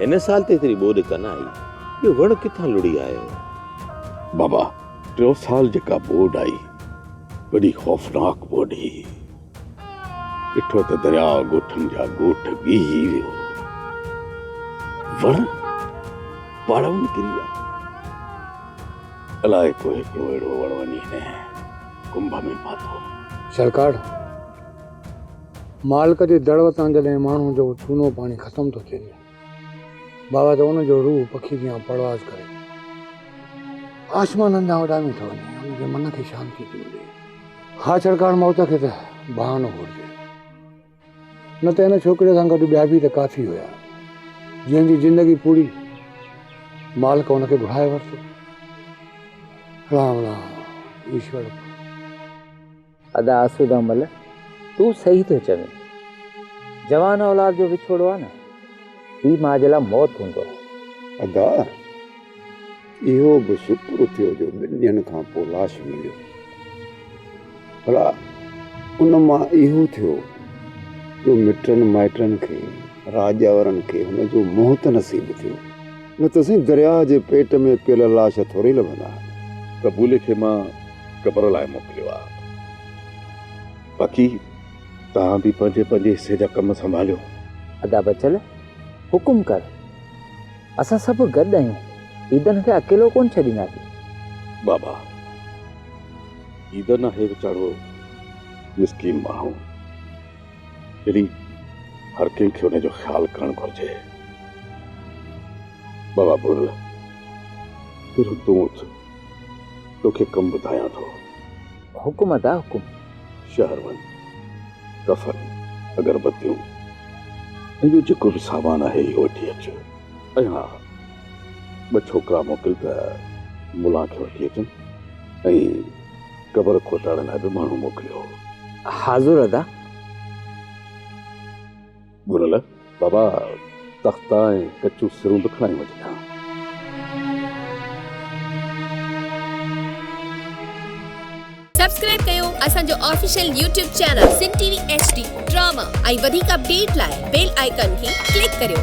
هن سال ته ايتري ٻوڏ ڪن آئي، اهو وڻ ڪٿان لڙهي آيو؟ بابا، ٽيون سال جيڪا ٻوڏ آئي، وڏي خوفناڪ ٻوڏ هئي. ڏٺو ته درياء ڳوٺن جا ڳوٺ ڳيهي ويو. وڻ پاڙئون نڪري ويا. الاء ڪو هڪڙو اهڙو وڻ وڃي هن ڪنڀ ۾ پاتو. شالڪاڙ! مالڪ جي دڙ وتان جڏهن ماڻهو جو چونو پاڻي ختم ٿو ٿئي بابا ته ان جو روح پکي جيان پرواز ڪري آسمانن ڏانهن اڏامي ٿو وڃي ان جي من کي شانتي ٿي ملي ها ڇڙڪاڻ موت کي ته بهانو گهرجي نه ته ان ڇوڪري سان گڏ ٻيا به ته ڪافي هيا جنهن جي زندگي پوري مالڪ ان کي گهرائي ورتو رام رام ايشور ادا آسوده مل تون صحيح ٿو چوين جوان اولاد جو وڇوڙو آ نه پي ماء جي لا موت هوندو آ. ادا اهو به شڪر ٿيو جو ٻن ڏينهن کان پو لاش مليو ڀلا ان مان اهو ٿيو جو مٽن مائٽن کي راڄاورن کي هن جو موت نصيب ٿيو. نه ته سائين درياهه جي پيٽ ۾ پيل لاش ٿوري لڀندا آهن. قبولي کي مان قبر لاء موڪليو آ. باقي توهان به پنهنجي پنهنجي حصي جا ڪم سنڀاليو. ادا بچل حڪم ڪر. اسان سڀ گڏ آهيون. عيدن کي اڪيلو ڪونه ڇڏينداسين. بابا عيدن آهي ويچارو مسڪين ماڻهو. اهڙي هر ڪنهن کي ان جو خيال ڪرڻ گهرجي. بابا ٻرڙ پهريون تون اٿ، توکي ڪم ٻڌايان ٿو. حڪم ادا حڪم. شهر وڃ، ڪفن، اگربتيون ۽ ٻيو جيڪو به سامان آهي اهو وٺي اچ ۽ ها ٻه ڇوڪرا موڪل ته ملان کي وٺي اچن ۽ قبر کوٽاڙڻ لاء به ماڻهو موڪليو هو. حاضر ادا. ٻرل، بابا تختا ۽ ڪچون سرون به کڻائي وڃ ٿا. سبسڪرائب ڪيو اسان جو official YouTube channel Sindh T V H D drama ۽ وڌيڪ اپڊيٽ لاء بيل آئيڪان کي ڪلڪ ڪريو.